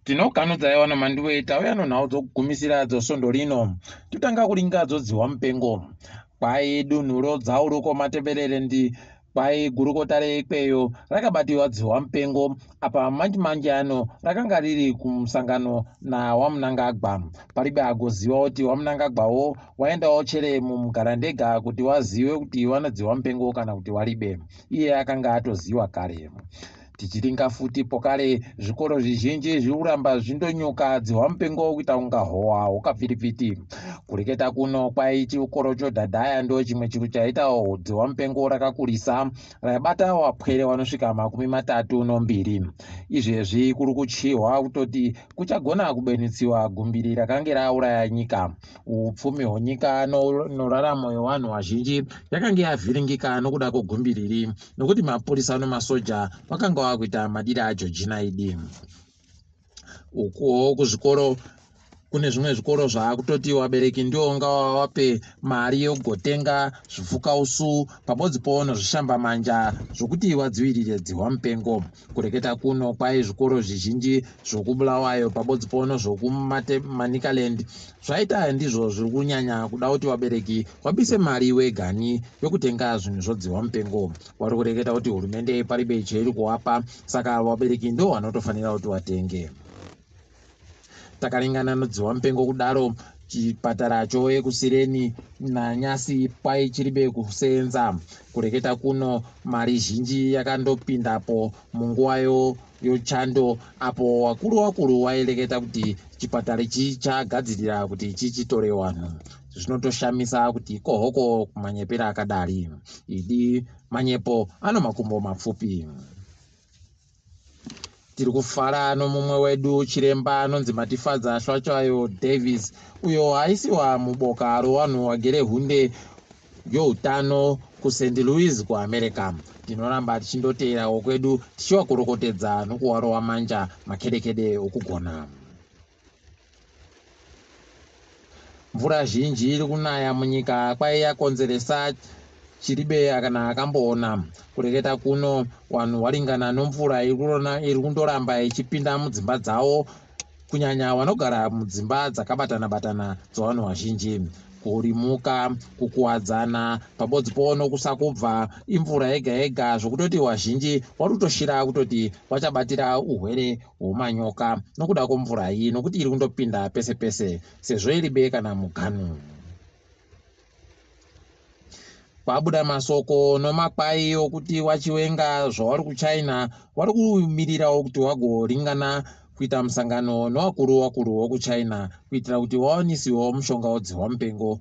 tinokanudza yawano mandiwe tauya nonhau dzokugumisira dzosondo rino totanga kuringa dzodzihwa mupengo kwai dunhu rodzauruko mateverere ndi kwai gurukota reikweyo rakabatiwa dzihwa mupengo apa manji manji ano rakanga riri kumusangano nawamunangagwa paribe agoziva kuti wamunangagwawo waendawo chere mumugarandega kuti wazive kuti wanodzihwa mupengo kana kuti waribe iye akanga atoziwa kare tichiringa futi pokare zvikoro zvizhinji zviuramba zvindonyuka dzihwa mupengo kuita kunga howa hukapfiripfiti kureketa kuno kwai chikoro chodhadhaya ndo chimwe chiro chaitawo dzihwa mupengo rakakurisa raibata wapwere wanosvika makumi matatu nombiri izvezvi kuri kuchihwa kutoti kuchagona kubenitsiwa gumbiri rakange rauraya nyika upfumi hwenyika inoraramo yevanhu vazhinji yakange yavhiringika nokuda kwegumbiriri nokuti mapurisa nemasoja vakanga vava kuita madiri ajojina idi ukuwo kuzvikoro kune zvimwe zvikoro zvaakutoti vabereki ndiwo unga wavape mari yokugotenga zvipfukausu pamodzi poono zvishambamanja zvokuti vadzivirire dzihwa mupengo kureketa kuno kwai zvikoro zvizhinji zvokubulawayo pabodzi pono zvokumanikalendi zvaita ndizvo zviri kunyanya kuda kuti vabereki vabise mari wegani yokutenga zvinhu zvodzihwa mupengo wari kureketa kuti hurumende paribe cheiri kuwapa saka vabereki ndo vanotofanira kuti vatenge Takarengana nodziwamupengo kudaro chipatara chove kusireni nanyasi kwai chiribe kuseenza kureketa kuno mari zhinji yakandopindapo munguvayo yochando apo wakuru wakuru waireketa kuti chipatara ichi chagadzirira kuti chichitore vanhu zvinotoshamisa kuti kohoko kumanyepera akadari idi manyepo ano makumbo mapfupi Tiri kufara nomumwe wedu chiremba anonzi Matifadza Shwatshayo Davis, uyo aisiwa muboka rowanhu wagere hunde youtano kuSt. Louis kuAmerica. Tinoramba tichindoteerawo kwedu tichiwakorokotedza nokuwarova manja makedekede okugona. Mvura zhinji iri kunaya munyika kwai yakonzeresa chiribe kana akamboona kureketa kuno vanhu waringana nomvura iri kundoramba ichipinda mudzimba dzawo kunyanya vanogara mudzimba dzakabatana batana dzevanhu vazhinji kurimuka kukuwadzana pabodzi powo nokusakubva imvura yega yega zvokutoti vazhinji vari kutoshira kutoti vachabatira uhwere hwomanyoka nokuda kwomvura iyi nokuti iri kundopinda pese pese sezvo iri be kana muganu kwabuda masoko nomakwai okuti wachiwenga zvauri kuchina wari kumirirawo kuti wagoringana kuita musangano nowakuru wakuru wokuchina kuitira kuti wawanisiwo mushonga wodzihwa mupengo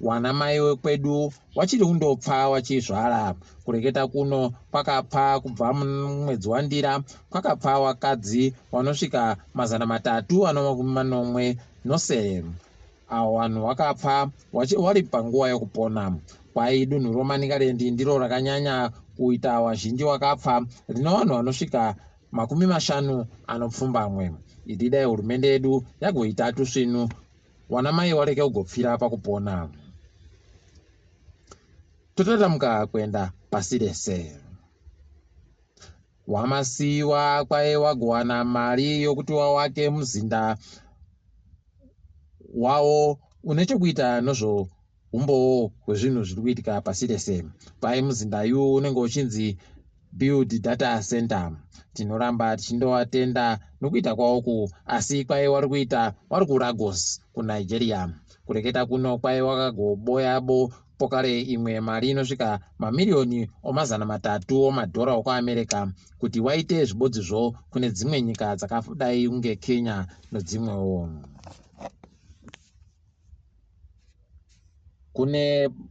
Wana mai wekwedu wachiri kundopfa wachizvara. Kureketa kuno kwakapfa kubva mumwedzi waNdira kwakapfa wakadzi wanosvika mazana matatu anomakumi manomwe nosere. Awo wanhu wakapfa wachiri wari panguva yokupona. Kwai dunhu roManikarendi ndiro rakanyanya kuita wazhinji wakapfa rino wanhu wanosvika makumi mashanu anopfumbamwe. Idi dai hurumende yedu yagoita tusvinu Wana mai wareke ugopfira apa kupona. Totatamuka kuenda pasi rese. Wamasiwa kwaye wagowana mari yokuti wawake muzinda wawo une chokuita nozvo umbowo hwezvinhu zviri kuitika pasi rese pai muzinda yu unenge uchinzi build data center tinoramba tichindovatenda nokuita kwaoku asi kwaive wari kuita wari kuragos kunigeria kureketa kuno kwaive wakagoboyabo pokare imwe mari inosvika mamiriyoni omazana matatu omadhora okuamerica kuti waite zvibodzizvo kune dzimwe nyika dzakadai kunge kenya nodzimwewo kune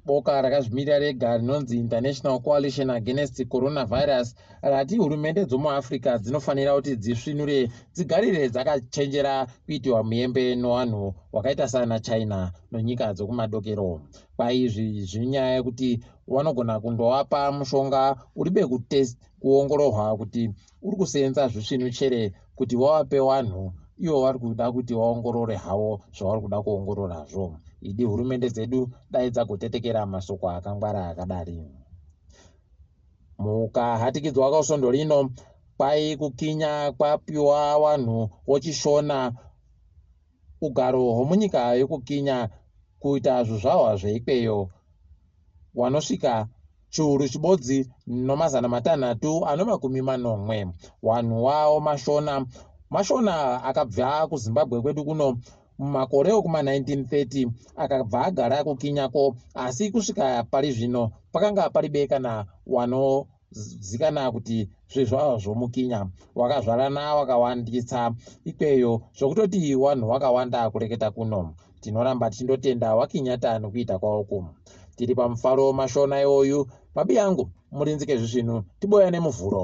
boka rakazvimirira rega rinonzi international coalition against coronavirus rati hurumende dzomuafrica dzinofanira kuti dzisvinure dzigarire dzakachenjera kuitiwa muyembe nowanhu wakaita sana china nonyika dzokumadokero paizvi zviri nyaya yekuti vanogona kundovapa mushonga uri bekutest kuongororwa kuti uri kuseenza zvisvinu chere kuti wavape wanhu ivo vari kuda kuti vaongorore havo zvavari kuda kuongororazvo idi hurumende dzedu dai dzagotetekera masoko akangwara akadari mukahatikidzwa kausvondo rino kwai kukinya kwapiwa wanhu wochishona ugaro hwomunyika yokukinya kuita zvizvarwa zveikweyo wanosvika chiuru chibodzi nomazana matanhatu anomakumi manomwe wanhu wawo mashona mashona akabva kuzimbabwe kwedu kuno mumakore okuma 1930 akabva agara kukinyako asi kusvika pari zvino pakanga paribe kana wano zikana kuti zvezvava zvomukinya wakazvarana wakawandisa ikweyo zvokutoti wanhu wakawanda kureketa kuno tinoramba tichindotenda wakinyata nokuita kwaoko tiri pamufaro mashona iwoyu babi yangu murinzike zvisvinu tiboya nemuvhuro